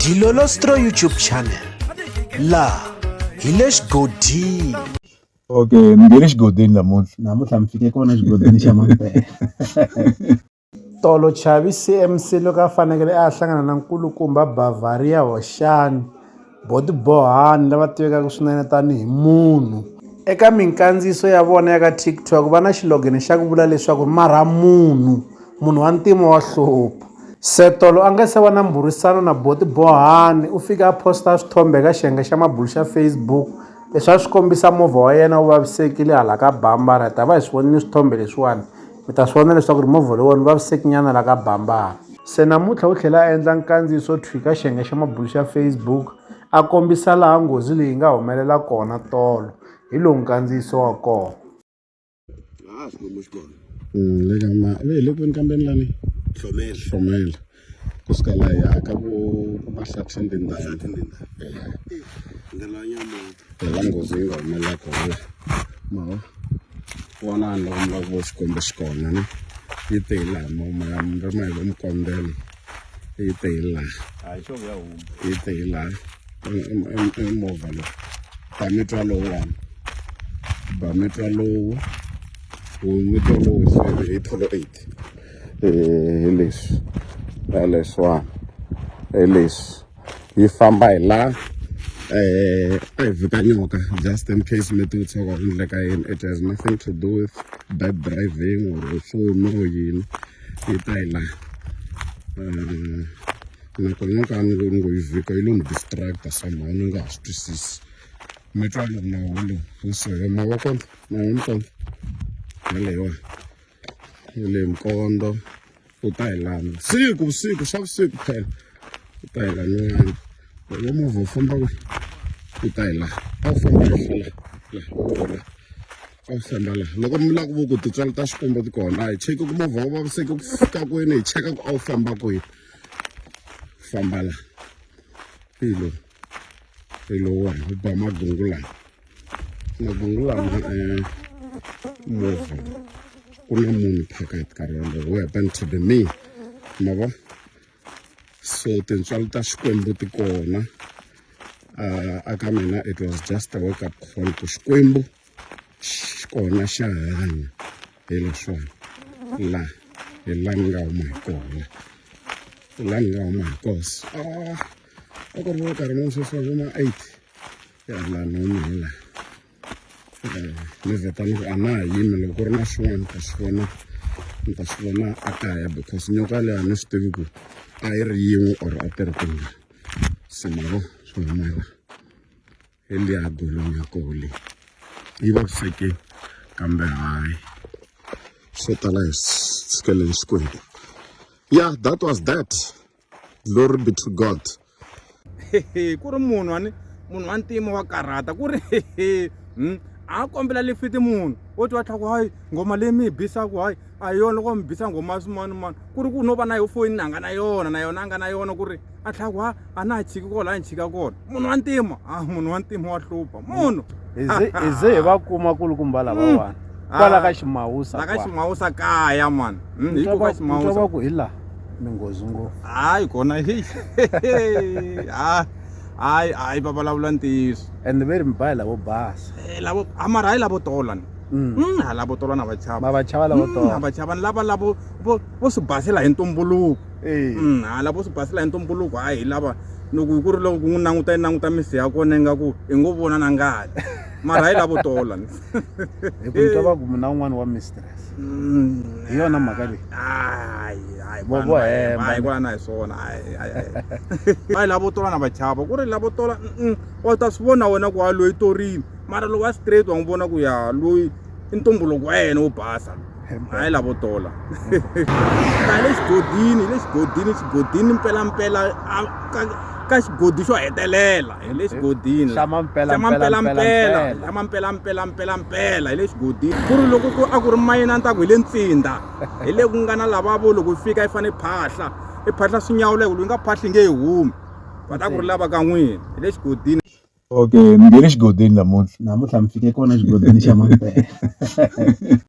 Dilolostro YouTube channel laha hi le xigodini okay mi nge le xigodini namuntlha namuntlha mi fike kona xigodini xa mampela tolo chavi cmc loko a fanekele a hlangana na nkulukumba bavaria hoxani Botibohani lava tivekaka swinene tanihi munhu. Eka minkandziyiso ya vona ya ka TikTok va na xilogene xa ku vula leswaku marha munhu, munhu wa ntima wa hlupha. Setolo a nga se va na mbhurisano na Botibohani u fike a posta swithombe eka xiyenge xa mabulo xa Facebook leswi a swi kombisa movha wa yena wu vavisekile hala ka Bhambaratha a va hi swi vonile swithombe leswiwani. Mi ta swi vona leswaku ri movha lowuwani wu vavisekinyana la ka bambara. Se namuntlha u tlhele a endla nkandziyiso wo thwika xiyenge xa mabulu xa Facebook a kombisa laha nghozi leyi yi nga humelela kona tolo. Hi lowu nkandziyiso wa kona. Laha a swi kombi xikolo. Mm, le ka ma, le le kwini kambeni lani? Hlomela. Hlomela. kusika la ya ka bo mahlathini tindhawu ndlela nyama phela nghozi yi nga humelela kona ma vona ni loko mi lava ku vo xikwembu xi kona ni yi te hi laha mama ya mi ri ma hi vo mikombelo yi te hi laha hayi xo ya huma yi te hi laha i movha lowu ba mi twa lowu wani ba mi twa lowu wu mi twa lowu hi tolo eight hi leswi hi leswiwani hi leswi yi famba hi la um a hi vika nyoka just in case mi ti vutisa ku endleka yini it has nothing to do with bad driving or foni or yini yi ta hi la um nakona nyoka ni lo ni ngo yi vika yi lo ni distracta somehow ni nga ha swi twisisi mi twa loko nawu lowu wu sohe mavoko nawu ni kona yaleyiwani ni le nkondo u ta hi lana siku vusiku swa vusiku phela u ta hi lanani loko movha wu famba ku u ta hi laha a wu famba henhla laha laha a wu famba laha loko mi lava ku vo ku titswalo ta xikombo ti kona a hi cheki ku movha wu vaviseke ku fika kwini hi cheka ku a wu famba kwini famba laha pilo Ilo wa ho ba magungula. Magungula ma eh move. Kuna munhu phakathi ka rona who happened to be me. Ma vo? So tintswalo ta Xikwembu ti kona. Uh, aka mina it was just a wake up call ku Xikwembu xi kona xa hanya hi leswona la hi la ni nga huma hi kona la ni nga huma hi koso ah. a ku ri na nkarhi lowu sweswi vo ma eight ya la noni hi la ni vheta ni ku a na ha yimi loko ku ri na swin'wana ni ta swi vona ni ta swi vona a kaya because nyoka leyi a ni swi tivi ku a yi ri yin'we or a ti ri tingani se mavo swi humela hi liya golong ya koho leyi yi vavisekile kambe hayi swo tala hi sikeleni xikwembu yeah that was that glory be to god ku ri munhu wani munhu wa ntima wa karhata ku ri hmm? a kombela lifiti munhu wo ti wa tlhaku hayi nghoma leyi mi yi bisaku hayi a hi yona loko mi bisa nghoma swin'wana mani ku ri ku no va na yo foyini na nga na yona na yona a nga na yona ku ri a tlhaku ha a na ha chiki kona la ni chika kona munhu wa ntima a ah, munhu wa ntima wa hlupha munhu hi ze hi va kuma kulukumba lavawani mm. kwala ah, ka ximawusa la ka ximawusa kaya mani hmm, hi ku ka ximawusa va ku hi laha minghozi ngopfu hayi kona hi ah, hayi hayi va vulavula ntiyiso and ve ri mi bayi lavo basa eh, lavo amara hayi lavo tola ni Mm. Mm, hala vo tolwana vachava va vachava lavo mm, tolana vachava ni lava lavo vo swi basela hi ntumbuluko Mm, ha lavo swi basela hi ntumbuluko a hi lava loko ku ri loko n'wi languta yi languta misi ya kona yi nga ku hi ngo vona na ngati mara hi lavo tola hi ku twa va ku mina un'wana wa mistress mm. hi yona mhaka leyi hayi kwala na hi swona va hi lavo tola na vachava ku ri lavo tola u ta swi vona wena ku ha loyi torini mara lowu wa straight wa n'wi vona ku ya loyi i ntumbuluko wa yena wo basa hayi lavo tola ta le xigodini le xigodini xigodini mpelampela ka xigodi xo hetelela hi le xigodini xamampelampelampela xamampelampelampelampela hi le xigodini ku ri loko ku a ku ri mayina ni ta ku hi le ntsinda hi le ku nga na lavavo loko yi fika yi fanele phahla i phahla swi nyawula hi ku loyi nga phahli nge yi humi va ta ku ri lava ka n'wina hi le xigodini Okay mi nghene xigodini namuntlha namuntlha mi fike kona xigodini xa Mampela.